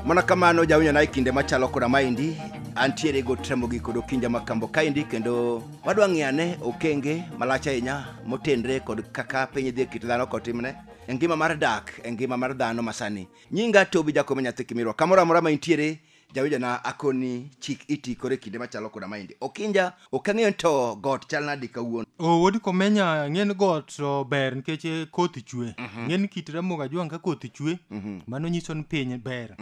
mana kamano jawinjo na e kinde machalo koda maendi antiere gotramogi kod okinja makambo kaendi kendo wadwa ng'eyo ane okenge malach ahinya motenre kod kaka piny dhi e kit dhano kotimne e ngima mar dak e ngima mar dhano masani nyinga tobi jakome nyathi kimirwa kamoro amora ma intiere jawinjona akoni chik iti koro e kinde machalo koda maendi okinja ok ang'eyo ni to got chal nadi kawuono o wod komenya ng'en got to ber nikech eh, koth chwe ng'en kit ramoga jwang' ka koth chwe mano nyiso ni piny ber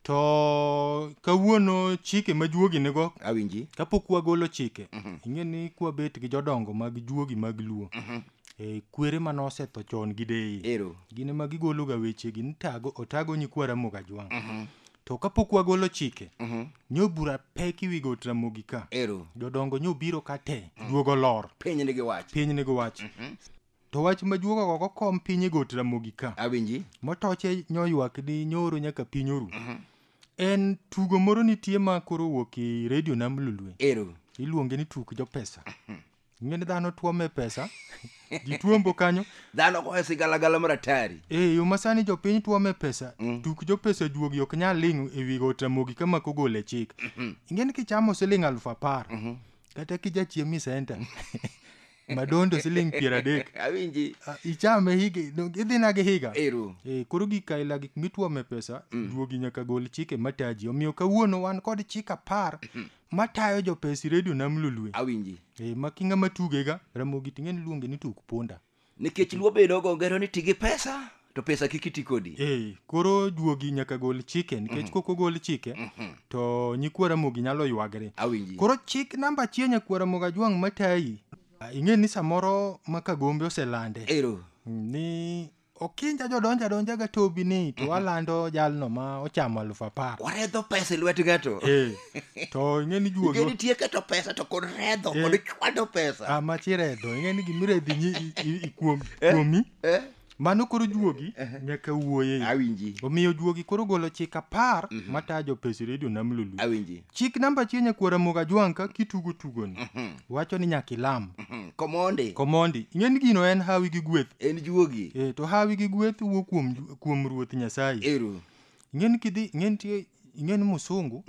To kawuono chike ma juogi nigo. Awinji. Kapok wagolo chike. Mm -hmm. Ing'e ni kwa bet gi jodongo mag juogi mag luo. Mm -hmm. E, kwere ma nosetho chon gi deyi. Ero. Gine ma gigolo ga weche gi nitago otago nyikwa ramoga jwang'. Mm -hmm. To kapok wagolo chike. Mm -hmm. Nyo bura pek iwi go tramogi ka. Ero. Jodongo nyo biro ka te. Mm -hmm. Duogo lor. Piny ni gi wach. Piny ni gi wach. Mm -hmm. To wach majuogo gogo kom piny e got Ramogi ka. Awinji. Motoche nyoywak ni nyoro nyaka piny oru. En tugo moro nitie ma koro wuok e redio nam lulwe. Ero. Iluonge ni tuk jo pesa. Ing'e ni dhano tuome pesa. Ji tuombo kanyo. Dhano goyo sigalagala mar atari. E yo masani jopiny tuome pesa. Tuk jo pesa juogi ok nyal ling' e wi got Ramogi kama kogol e chik. Ing'e ni kichamo siling' aluf apar. Kata kijachiem e senta. madondo siling piero adek awinji Ah, ichame higa no, idhina gi higa ero Eh, koro gik aila gik mitwome pesa duogi nyaka gol chike mataji omiyo kawuono wan kod chik apar matayo jopesi redio nam lulue awinji Eh, ma kinga matugega ramogi ting'e ni luonge ni tuk punda nikech luo bedo go ngero ni ti gi pesa to pesa kik iti kodi Eh, koro juogi nyaka gol chike nikech kok ogol chike to nyikwa Ramogi nyalo ywagre. awinji Koro chik namba achiel nyakwa Ramogi Ajwang' matayi. Ah, Ing'e ni samoro ma Kagombe oselande ero ni okinja jodonja donja ga tobi ni to walando jalno ma ochamo aluf apar. waredho pesa e lwet ng'ato Eh, to ing'e ni juogi Igeni tiyo keto pesa to kod redho Eh. kod chwado pesa ah, machiredho ing'e ni gimiredhi nyi- i- i- i- kuom- kuomi Eh? Mano koro juogi nyaka wuoye. Awinji. Omiyo juogi koro golo chik apar matayo jopes redio Nam Lulu. Awinji. Chik namba achiel nyakwar Ramogi Ajwang' ka kitugo tugoni. Wacho ni nyaka ilam. Hmm, Komondi. Komondi, ing'e ni gino en hawi gi gweth. En juogi. E, to hawi gi gweth wuok kuom, kuom Ruoth Nyasaye. Eru. Ing'e ni kidhi, ing'e nitie, ing'e ni musungu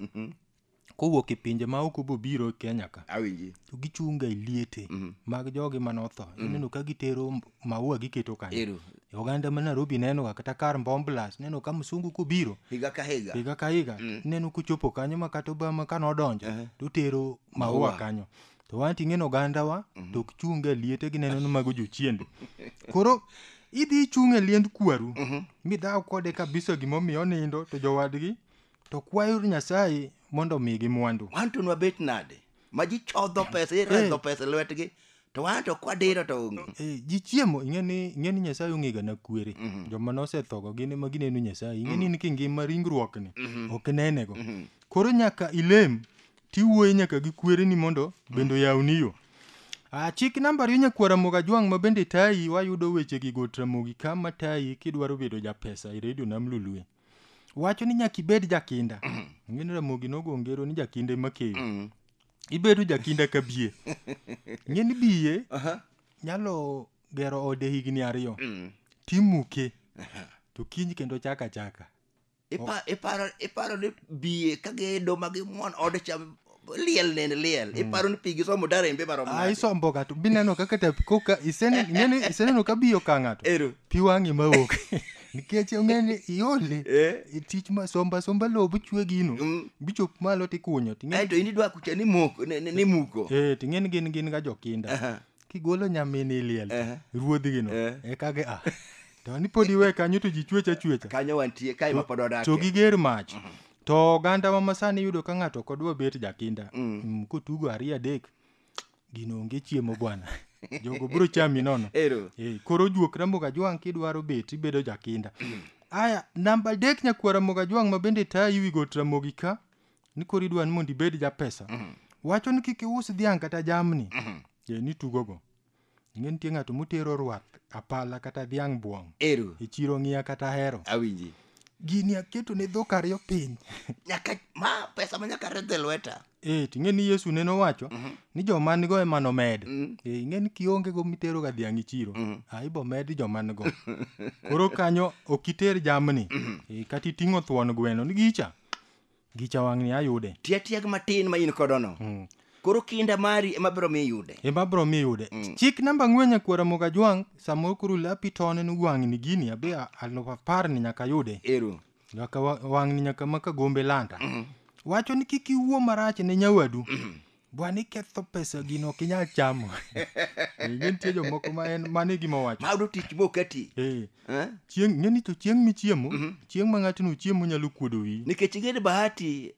kowuok e pinje ma oko bobiro e Kenya ka awinji to gichunga e liete mag jogi mane otho ineno ka gitero m- maua giketo kanyo Ero. E oganda ma Nairobi nenoga kata kar Mbomblas neno ka msungu kobiro higa ka higa higa ka higa ineno kochopo kanyo ma kata Obama kane odonjo to otero maua Maua. kanyo to wan ting'e ni ogandawa to ok chunga e liete gineno ni mago jochiende koro idhi ichung' e liend kwaru midhaw kode kabisa gimomiyo onindo to jowadgi to kwayouru nyasaye mondo omigi mwandu wan to nwabet nade ma ji chodho pesa iredho Eh. pesa e lwetgi to wan to kwadiro to onge Eh, ji chiemo ing'e ni ing'e ni nyasaye ong'ega na kwere Mhm. joma nosethogo gin ema gineno nyasaye ing'e ni in kingima ringruokni Mhm. ok nenego Mhm. koro nyaka ilem tiwuoye nyaka gi kwereni mondo bende oyawni yo Ah, chik namba ariyo nyakwar Ramogi Ajwang' ma bende tayi wayudo wechegi got Ramogi kama tayi kidwaro bedo japesa e redio nam lulue wacho ni nyaka ibed jakinda ng'eni ramogi nogo ngero ni jakinda ema keyo Mm. ibedo jakinda ka bie ng'eni bie Aha. nyalo gero ode higni ariyo Mm. timuke to kiny kendo chaka achaka Ipa- iparo iparo ni biye ka gido ma gimwon ode cha liel nende liel mm. iparo ni pigi somo darembe marom ah, isombo ga to bineno kaka ta koka isene ngene iseneno ka biyo ka ng'ato ero pi wang'i mawuok nikech ong'eni iole eh? tich ma somba somba lowo bichwe gino mm. bichop malo tikunyo to in idwa kucha ni moko ni muko eh ting'eni gin gin ga jokinda uh -huh. kigolo nyamini liel uh -huh. ruodhi gino uh eh. -huh. eka ge ah to ni pod iwe kanyo to ji chwecha chwecha kanyo wantie kae ma pod odake to giger mach uh mhm. -huh to oganda ma masani yudo ka ng'ato ok odwa bet jakinda Mm. mm, kotugo ariyo adek gino onge chiemo bwana jogo biro chami nono ero Eh, koro juok ramogo ajwang' kidwaro bet ibedo jakinda aya namba adek nyakwar ramogo ajwang' ma bende tayi wi got ramogi ka ni koro idwa ni mondo ibed japesa wacho ni kik ius dhiang' kata jamni Eh, ni tugogo ing'e nitie ng'ato motero rwath apala kata dhiang' buong' ero e chiro ng'iya kata ahero awinji gini aketo ne dhok ariyo piny nyaka ma pesa ma nyaka redhe lweta e ting'e ni yesu nene owacho Mhm. ni joma nigo ema nomed Mm. e ing'e ni kionge go mitero ga dhiang' e chiro Mhm. a ibo med joma nigo koro kanyo ok iter jamni e, kata iting'o thuon gweno ni gicha Gicha wang' ni ayude. Tia tiag matin ma in kodo no. Mm. Koro kinda mari ema biro mi yude. Ema biro mi yude. Mm. Chik namba ng'we nyakwara moga jwang' samoro kuru lapi tone ni wang' ni gini abe aluf apar ni nyaka yude. Eru. Nyaka wang' ni nyaka maka gombe lanta. Mm. Wacho ni kik iwuo marach ne nyawadu. Mm. Bwana iketho pesa gino ok inyal chamo. Ing'e nitie jomoko ma en mano e gima owacho. Mayudo tich moketi. Eh, Eh? chieng' ng'e ni to chieng' michiemo, chieng' ma ng'ato no chiemo nyalo kuodo wiyi. Nikech ing'e ni bahati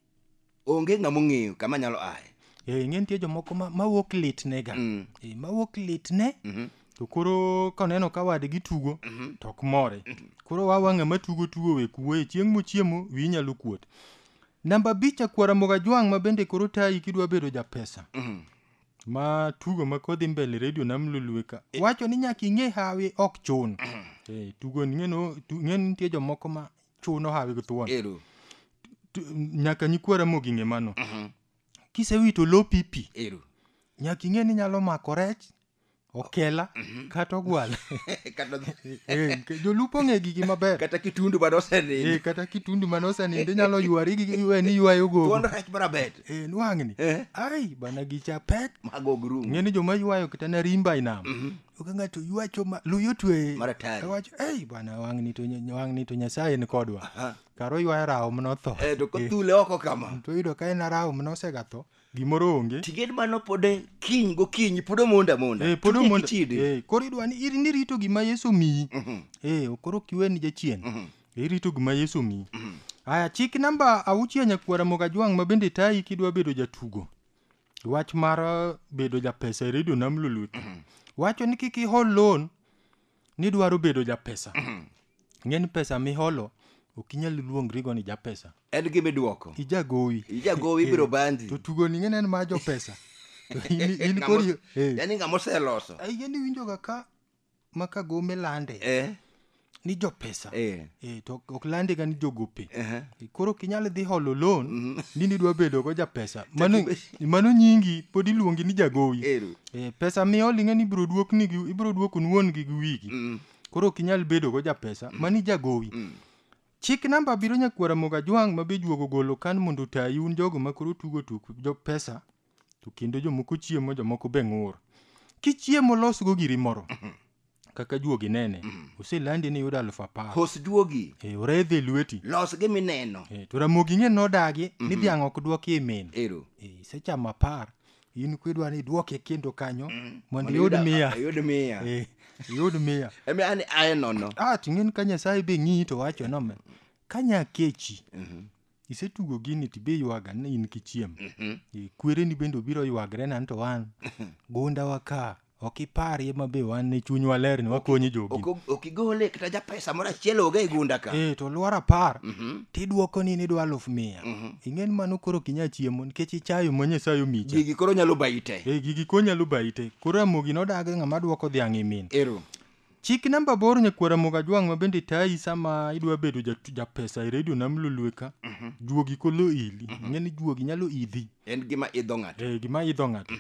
onge ng'ama ong'eyo kama nyalo aye. Eh, ing'e nitie jomoko ma ma wuok litnega. Mm. Eh, ma wuok litne Mhm. to koro koneno ka wadgi tugo to ok more. Koro wawang'a ma tugo tugo we kuwe chieng' mochiemo wiyi nyalo kuot. Namba abich akwara moga jwang' ma bende koro tayi kidwa bedo japesa. Mm. Ma tugo ma kodhi mbele redio nam lulue ka. E. Wacho ni nyaka ing'e hawi ok chun. Mm. Eh, tugo ni ng'eno tu- ng'eno nitie jomoko ma chuno hawi gi thuon. Ero. Tu- Nyaka nyikwara mogi ng'e mano. Mhm. Kisewito lo pipi Ero. nyaka ing'e ni nyalo mako rech okela kata ogwala kata Eh, ke- jolupo ong'e gigi maber kata kitundu bado osenindo Eh, kata kitundu mane osenindo inyalo ywari gi iwe ni ywayo gogo thuondo rech bado abet Eh, nwang'ni Eh. ai bana gicha pek mago grum ng'e ni joma ywayo kata na rimba inam oka ng'ato ywacho ma luyo twe Maratari. wacho ei bana wang'ni to nya- wang'ni to nyasaye ni kodwa karo ywayo rawo mnotho eh to kothule oko kama to yudo ka en arawo mnosegatho gimoro onge tiged mano pod en kiny gokinyi pod omondo amonda Eh, pod Tinde omondo- kichide. eh, koro idwa ni ir- nirito gima yesu omiyi Mhm. Eh, koro ok iwe ni jachien Mhm. irito gima yesu omiyi aya chik namba auchiel nyakwara mogajwang' ma bende tayi kidwa bedo jatugo wach mar eh, bedo japesa e redio nam lolwe wacho ni kik ihol loan nidwaro bedo japesa ing'e ni pesa miholo ok inyal luongrigo ni japesa en gima iduoko ijagowi ijagowi ibiro bandi to tugoni ing'e ni en mar jopesa To in- in Ng'amo- kori eh, yani ng'ama oseloso ai, yani iwinjoga ka ma ka gome lande eh ni jopesa eh Eh, to ok landega ni jogope eh koro ok inyal dhi holo loan ni nidwa bedogo japesa mano mano nyingi pod iluongi ni jagowi Ero. Eh, pesa miol ing'e ni ibiro duokni gi- ibiro duokun wuon gi gi wigi Mm. koro ok inyal bedo go japesa mani jagowi Mm. chik namba abiriyo nyakwara moga jwang' ma be juogo golo kan mondo otayi un jogo ma koro tugo tuk jo pesa to kendo jomoko chiemo jomoko be ng'ur kichiemo losgo giri moro kaka juogi nene oselandi ni yudo aluf apar hos juogi Eh, oredhe lweti los gi mineno Eh, to ramogi ng'e nodagi ni dhiang' ok dwoki imin ero Eh, isechamo apar in kwidwa ni idwoke kendo kanyo mondo iyud mia iyud mia Eh, iyud mia emi an aye nono ah ting'en ka nyasaye be ng'iyi to wacho nome ka nyakechi isetugo gini to ibe ywaga ni in kichiem Mhm. Eh, kwereni bende obiro ywagre nan to wan gundawa ka ok iparie ma be wan ne chunywa ler ni wakonyi jogi Ok- ok igole kata ja pesa moro achiel oge e gunda ka eh to lwar apar Mhm. tidwoko ni nidwa aluf mia Mhm. ing'e ni mano koro ok inyal chiemo nikech ichayo ma nyasaye omicha gigi koro nyalo bayi te eh gigi konyalo bayi te koro amogi nodagi ng'ama dwoko dhiang' imin ero Chik namba aboro nyakwar Ramogi Ajwang' ma bende tayi sama idwa bedo ja, ja pesa e redio nam lolwe ka. Juogi kolo ili. Ing'eni juogi nyalo idhi. En gima idho ng'ato. Eh, gima idho ng'ato.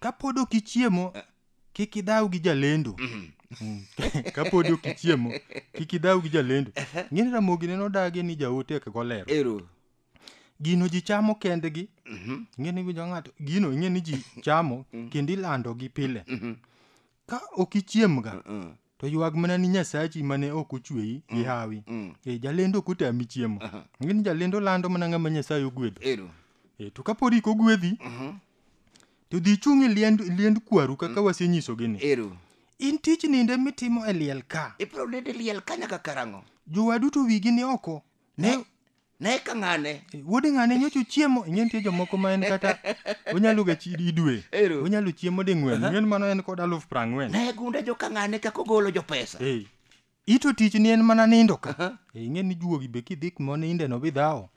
Kapod ok ichiemo, kik idhaw gi jalendo. Mm. Kapod ok ichiemo, kik idhaw gi jalendo. Ing'eni Ramogi ne nodagi ni jaote ok golero. Ero. Gino ji chamo kendgi. Ing'eni winjo ng'ato. Gino ing'eni ji chamo kendo ilandogi pile. Ka ok ichiemga, Mm, to ywag mana ni Nyasachi mane ok ochweyi gi hawi. mm. E, jalendo ok otami chiemo. Aha. Ng'eni jalendo lando mana ng'ama Nyasaye ogwedho. Ero. E, to kapod ik ogwedhi, Mhm. to dhi chung' e liend, liend kwaru kaka wasenyisogi ni. Ero. In tich ninde mitimo e liel ka. Ibiro nende liel ka nyaka karang'o? Jowadu to wigi ni oko. Ne, ne ka ng'ane Eh, wuod ng'ane nyocha uchiemo ing'e nitie jomoko ma en kata onyalo ga chi idwe Ero. onyalo chiemo ding'wen ing'e ni mano en kod aluf prang'wen ne gunde jo ka ng'ane kaka ogolo jo pesa Eh, ito tich ni en mana nindo ka Aha. Eh, ing'e ni juogi be kidhi kuma ninde no bidhawo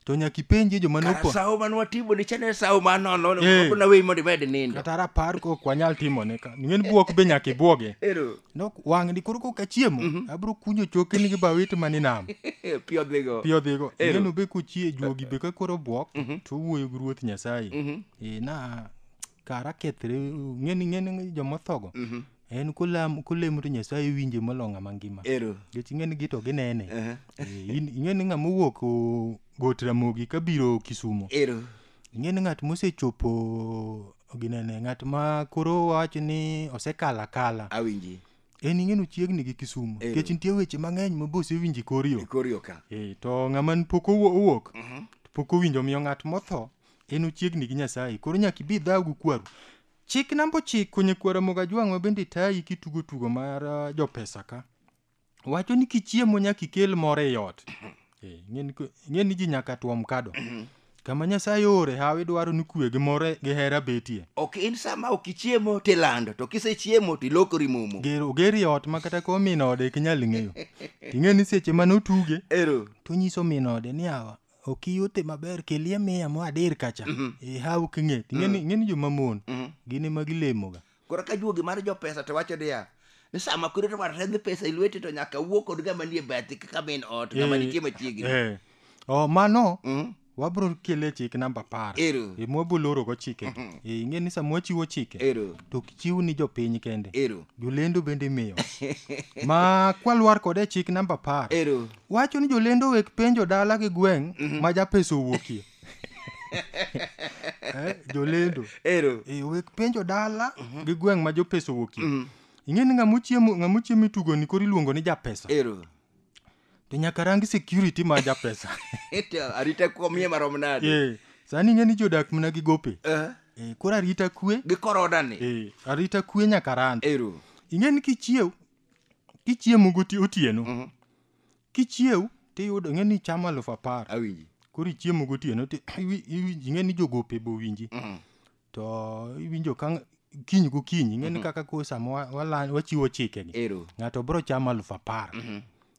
to nyaka ipenjie joma kara nopo sawo man watimo ni chane sawo man nono Eh. na weyi mondo imed nindo kata rapar kok wanyal timone ka ing'e ni buok be nyaka ibuoge ero No, wang'ni koro kok achiemo Mhm. abro kunyo chokeni gi bawit mani nam Pi odhigo. pi odhigo Ero. neno be kochie juogi be ka koro bwok Mhm. to wuoyo gi ruoth nyasaye Mhm, e na kara kethre ng'eni ng'eni jomothogo mhm. en kolam kolemo to nyasaye winje molo ng'ama ngima Ero. nikech ing'eni gi to ginene Aha. Eh, in- ing'eni ng'ama owuok o- got ramogi kabiro kisumo Ero. ing'e ni ng'at mosechopo ginene ng'at ma koro wacho ni osekalo akala awinji en ing'e ni ochiegni gi kisumu Eh. nikech nitie weche mang'eny ma be osewinjo e kor yo ikorio ka Eh, to ng'ama n- pok owo- owuok to pok owinjo omiyo ng'at motho en ochiegni gi nyasaye koro nyaka ibi dhaw gi kwaru chik namba ochiko nyakwara mogajwang' ma bende tayi kitugo tugo mar ah, jopesa ka wacho ni kichiemo nyaka ikel moro ei ot Eh, ing'e ni ko- ing'e ni ji nyaka tuom kado kama nyasaye ore hawi dwaro ni kwe gi more gi hera betie ok in sama ok ichiemo tilando to kisechiemo to ilokori momo Ger- oger i ot ma kata ko min ode ok inyal ng'eyo ting'e ni seche mane otuge ero to nyiso min ode ni awa ok iyute maber kelie miya mo adir kacha ihaw king'e ting'e ni ing'e ni jomamon gin ema gilemoga Koro ka juogi mar jopesa to wacho niya ni sama koro to waredh pesa e lweti to nyaka wuo kod ng'ama nie bathi kaka min ot ng'ama Eh, nitie machiegni. eh. Oh, mano Mm. wabro kele chik namba apar Ero. e mwabulorogo chike e ing'e ni sama wachiwo chike Ero. to ok chiw ni jopiny kende Ero. jolendo bende imiyo ma kwalwar kode e chik namba apar Ero. wacho ni jolendo wek penjo dala gi gweng' ma japesa owuokie eh, jolendo ero e wek penjo dala mhm. gi gweng' ma jopesa owuokie mhm. ing'e ni ng'ama ochiemo itugo ni koro iluongo ni japesa ero to nyaka rang security ma japesa arita komie marom nade eh, sani ing'e ni jodak mna gi gope eh. Eh, koro arita kwe gi korona ni arita kwe nyaka rand ero ing'e ni kichiew kichiemo gotieno mhm. Kichiew tiyudo ing'e ni chamo alufu apar. Awinji. Koro ichiemo gotieno ti iwi- iwi- ing'e ni jogope be owinji. Mm. To iwinjo ka ng- kiny gokinyi ing'e ni kaka koro sama wa- wala- wachiwo chikegi. Ero. Ng'ato biro chamo alufu apar.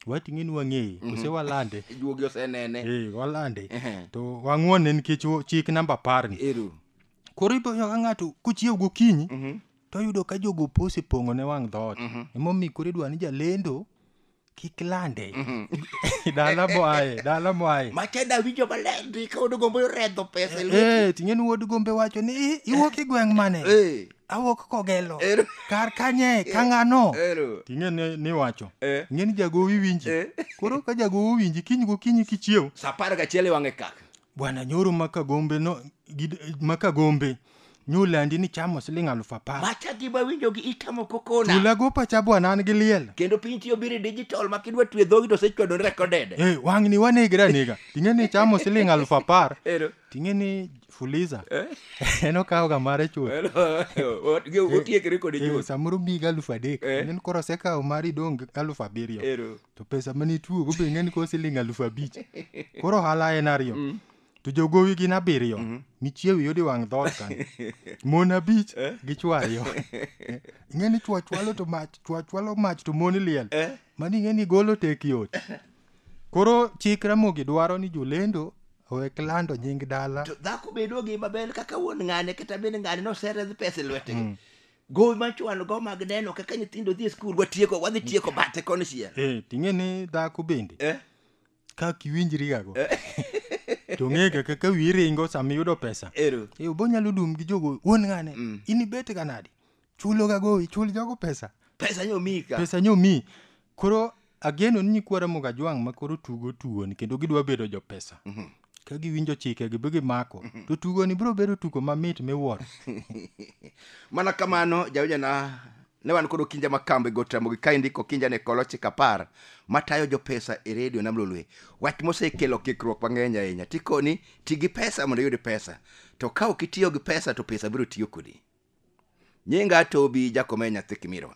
Wati ing'e ni wang'eye kose walande. Juogi osenene. Eh, walande. Ehe. To wang'wonne nikech wo- chik namba apar ni. Ero. Koro iboyo ka ng'ato kochiew gokinyi Mhm. to yudo ka jogope osepong'o ne wang' dhoot. Emomiyo koro idwa ni jalendo kik lande dala moaye dala moaye macheda winjo maler ndi ka wuod gombo redho pesa e lweti. Eh, ting'en wuod gombe wacho ni "I- iwuok e gweng' mane Eh, awuok kogelo Ero. kar kanye ka ng'ano ero. ting'e ni- niwacho Eh. ing'e ni jagowi winji Eh. koro ka jagowi winji kiny gokinyi kichiew Sa apar gachiel iwang'e kaka Bwana nyoro ma Kagombe no gid, ma Kagombe nyolandi ni chamo siling alufu apar. Macha gima winjo gi itamo kokona. Chula go pacha bwana an gi liel. Kendo piny tiyo biri digital ma kidwa twe dhogi to sechwado recorded. Eh, wang'ni wanegre anega. Ting'e ni chamo siling alufu apar. Ero. Ting'e ni fuliza. en okawo ga mare chuth. Otiekre kode Eh, chuth. samoro miyi ga alufu adek. Eh. Nen koro osekawo mari dong' gi alufu abiriyo. Ero. to pesa mane ituogo be ing'eni koro siling alufu abich koro ohala en ariyo mm. to jogowi gin abiriyo mm -hmm. michiew yudi wang' dhoot kan mon abich eh? gi chwo ariyo ing'eni chwo chwalo to mach chwo chwalo mach to mon liel eh? mani ing'eni golo tek yot koro chik ramogi dwaro ni jolendo owek lando nying dala to dhako bedo gi maber kaka wuon ng'ane kata bende ng'ane nosereth pesa e lwetegi mm. gowi ma chuan go mag neno kaka nyithindo dhi e skul watieko wadhi tieko bate koni chiel eh, ting'e ni dhako bende eh? ka kiwinjrigago eh. to ng'ega kaka wiyi ringo sama iyudo pesa eh, obonyalo dum gi jogo wuon ng'ane mm. in ibete ga nadi chuloga gowi chul jogo pesa pesa nyomi ka pesa nyomi koro ageno ni nyikwa Ramogi Ajwang' ma koro tugo tugoni kendo gidwa bedo jopesa mhm. ka giwinjo chike gi gimako mhm. to tugoni biro bedo tugo mamit miwuoro mana kamano jawinjana ne wan kod okinja makambo e got Ramogi ka indiko okinja ne kolo chik apar matayo jopesa e redio nam lolwe wach mosekelo kikruok mang'eny ahinya tikoni ti gi pesa mondo iyud pesa to ka ok itiyo gi pesa to pesa biro tiyo kodi nyinga tobi jakome nyathi kimirwa